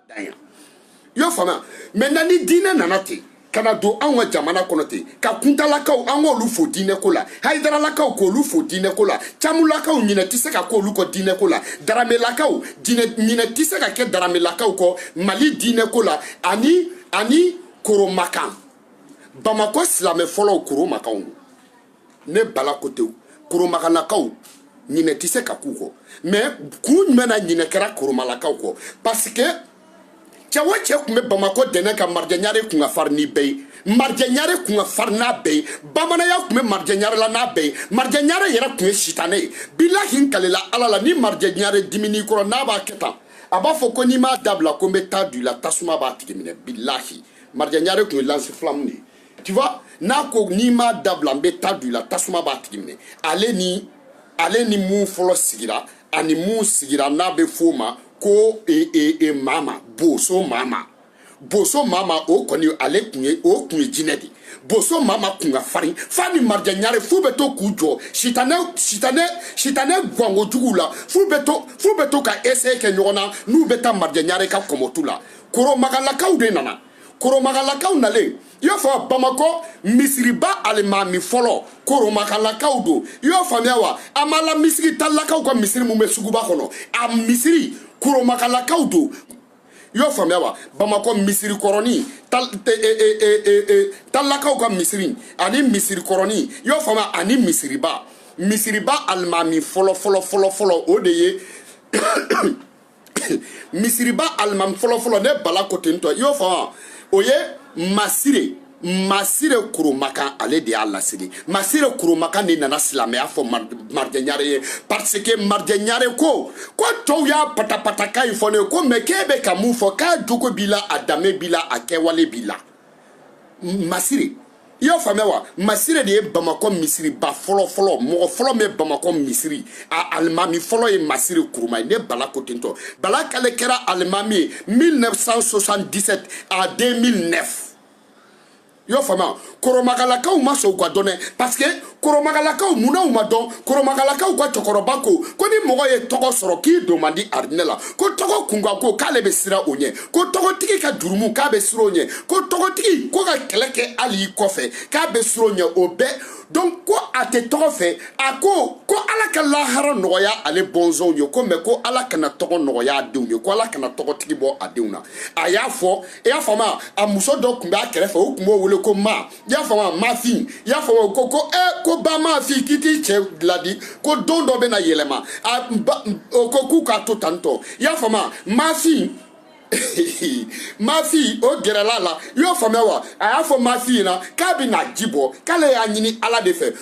dan yan i y'o faamuya maintenant ni diinɛ nana ten ka na don anw ka jamana kɔnɔ ten ka kuntalakaw an k'olu fo diinɛko la hayidaralakaw k'olu fo diinɛko la camulakaw ɲinɛ tɛ se ka k'olu kɔ diinɛko la daramelakaw ɲinɛ tɛ se ka kɛ daramelakaw kɔ mali diinɛko la ani ani koromakan bamakɔ silamɛ fɔlɔw koromakanw ne bala ko ten koromakalakaw ɲinɛ tɛ se ka k'u kɔ mais kun jumɛn na ɲinɛ kɛra koromalakaw kɔ parce que cɛ o cɛ tun bɛ bamakɔ dɛnɛ ka marijɛɲare kun ka fari ni bɛɛ ye marijɛɲare kun ka fari n'a bɛɛ ye bamananya tun bɛ marijɛɲare la n'a bɛɛ ye marijɛɲare yɛrɛ tun ye sitanɛ ye bilahi n kalela ala la ni marijɛɲare dimin'i kɔrɔ n'a b'a kɛ tan a b'a fɔ ko n'i m'a dabila ko n bɛ ta don i la tasuma b'a tigi minɛ bilahi marijɛɲare tun ye lance-flamme de ye tu vois n'a ko n'i m'a dabila n bɛ ta don i la tasuma b'a tigi minɛ ale ni ale ni mun fɔlɔ sigira ani mun sigira n'a bɛ f'o ma ko e, e, e, mama boso mama boso mama o kɔni ale tun ye o tun ye jinɛ de boso mama kun ka farin f'a ni marijɛɲare f'u bɛ to k'u jɔ sitanɛ sitanɛ sitanɛ gwango juguw la f'u bɛ to f'u bɛ to ka essai kɛ ɲɔgɔn na n'u bɛ taa marijɛɲare ka kɔmɔtu la koromagalakaw de nana koromakalakaw nalen i y'o faamuya bamakɔ misiriba alimami fɔlɔ koromakalakaw don i y'a faamuya wa an b'a la misiri talilakaw ka misiri min bɛ suguba kɔnɔ a misiri koromakalakaw don i y'o faamuya wa bamakɔ misiri kɔrɔni talilakaw ka misiri ani misiri kɔrɔni i y'o faamuya ani misiriba misiriba alimami fɔlɔ fɔlɔ fɔlɔ fɔlɔ o de ye misiriba alimami fɔlɔfɔlɔ ne bala ko ten tɔ i y'o faamuya o ye masire masire kurumakan ale de y'a lasigi masire kurumakan de nana silamɛya fɔ marijɛɲare ye parce que marijɛɲare ko ko tɔw y'a patapata kan in fɔ ne ye ko mais k'e bɛ ka mun fɔ k'a jogo b'i la a danbe b'i la a kɛwale b'i la masire i y'a faamuya wa masire de ye bamakɔ misiriba fɔlɔ fɔlɔ mɔgɔ fɔlɔ min ye bamakɔ misiri a alimami fɔlɔ ye masire kuruma ye ne bala ko ten tɔ bala kale kɛra alimami ye 1977 à 2009 i y'o faamuya koromakalakaw ma sɔn u ka dɔn dɛ parce que koromagalakaw munna u ma dɔn koromagalakaw ka cɛkɔrɔba ko ko ni mɔgɔ ye tɔgɔ sɔrɔ k'i don man di arijinɛ la ko tɔgɔ kunkanko k'ale bɛ siran o ɲɛ ko tɔgɔtigi ka jurumu k'a bɛ siran o ɲɛ ko tɔgɔtigi ko ka kɛlɛ kɛ hali i kɔfɛ k'a bɛ siran o ɲɛ o bɛɛ donc ko a tɛ tɔgɔ fɛ a ko ko ala ka lahara nɔgɔya ale bɔnsɔnw ye ko mais ko ala kana tɔgɔ nɔgɔya a denw ye ko ala kana tɔgɔtigi bɔ a denw na a y'a fɔ i y'a faamuya a muso dɔ tun b'a kɛrɛfɛ o tun b'o wele ko ma i y'a faamuya mafi i y'a faamu ko ko ɛ eh, ko ba mafi k'i t'i cɛ laadi ko don dɔ bɛ na yɛlɛma a ba o ko k'u k'a to tan tɔ i y'a faamuya mafi mafi o gɛrɛla a la i y'o faamuya wa a y'a fɔ mafi ɲɛna k'a bɛ na ji bɔ k'ale y'a ɲini ala de fɛ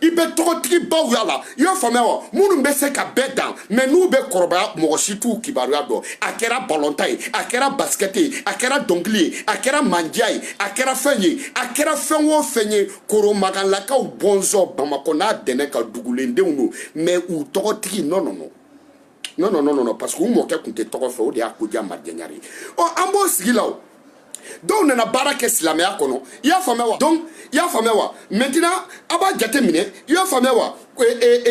i bɛ tɔgɔtigibaw y'a la i y'a faamuya wa minnu bɛ se ka bɛɛ dan mais n'u bɛ kɔrɔbaya mɔgɔ si t'u kibaruya dɔn a kɛra balɔntan ye a kɛra basikɛti ye a kɛra dɔnkili ye a kɛra mandiya ye a kɛra fɛn ye a kɛra fɛn o fɛn ye koromagalakaw bɔnsɔn bamakɔ n'a dɛmɛ ka dugulendenw don mais u tɔgɔtigi non non non non non non non parce que u mɔkɛ tun tɛ tɔgɔ fɛ o de y'a ko diya marijɛ ɲare ye ɔ an b'o sigi la o dɔw nana baara kɛ silamɛya kɔnɔ i y'a faamuya wa donc i y'a faamuya wa maintenant a b'a jate minɛ i y'a faamuya wa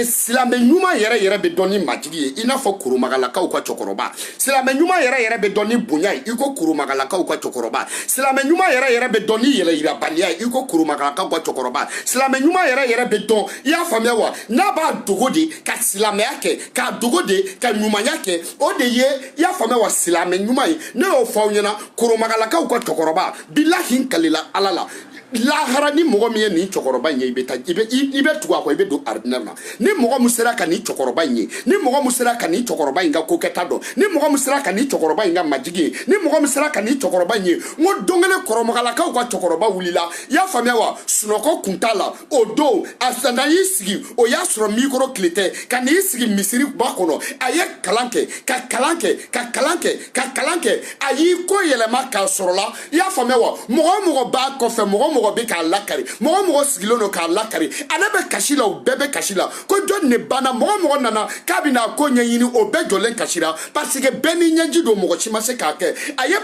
silamɛ ɲuman yɛrɛ yɛrɛ bɛ dɔn ni majigi ye i n'a fɔ koromagalakaw ka cɛkɔrɔba silamɛ ɲuman yɛrɛ yɛrɛ bɛ dɔn ni bonya ye i ko koromagalakaw ka cɛkɔrɔba silamɛ ɲuman yɛrɛ yɛrɛ bɛ dɔn ni yɛrɛyirabaliya ye i ko koromagalakaw ka cɛkɔrɔba silamɛ ɲuman yɛrɛ yɛrɛ bɛ dɔn i y'a faamuya wa n'a b'a dogo de ka silamɛya kɛ k'a dogo de ka ɲumanya kɛ o de ye i y'a faamuya wa silamɛ ɲuman ye ne y'o fɔ aw ɲɛna koromagalakaw ka cɛkɔrɔba bilahi n kalila ala la lahara ni mɔgɔ min ye nin cɛkɔrɔba in ye i bɛ taa i bɛ i bɛ tugu a kɔ i bɛ don arijinɛ na ni mɔgɔ min sera ka nin cɛkɔrɔba in ye ni mɔgɔ min sera ka nin cɛkɔrɔba in ka ko kɛta dɔn ni mɔgɔ min sera ka nin cɛkɔrɔba in ka majigi ye ni mɔgɔ min sera ka nin cɛkɔrɔba in ye n ko don kelen koromagalakaw ka cɛkɔrɔba wulila i y'a faamuya wa sunɔgɔ kun t'a la o don a nana y'i sigi o y'a sɔrɔ mikoro tile tɛ ka n'i sigi misiri ba kɔnɔ a ye kalan kɛ ka kalan kɛ ka kalan kɛ ka kalan kɛ a y'i kɔ yɛlɛma k'a sɔrɔla i y'a faamuya wa mɔgɔ o mɔgɔ b'a kɔfɛ mɔgɔ o mɔgɔ bɛ k'a lakari mɔgɔ o mɔgɔ sigilen don k'a lakari ale bɛ kasi la o bɛɛ bɛ kasi la ko jɔni de banna mɔgɔ o mɔgɔ nana k'a bɛ n'a ko ɲɛɲini o bɛɛ jɔlen kasi la parce que bɛɛ n'i ɲɛji don mɔgɔ si ma se k'a kɛ a ye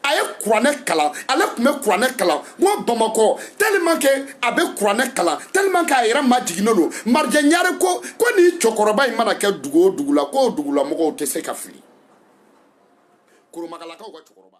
a ye kuranɛ kalan ale tun bɛ kuranɛ kalan ko bamakɔ tellement que a bɛ kuranɛ kalan tellement que a yɛrɛ majiginnen don marijɛ ɲare ko ko nin cɛkɔrɔba in mana kɛ dugu o dugu la k'o dugulamɔgɔw tɛ se ka fili koromagalakaw ka cɛkɔrɔba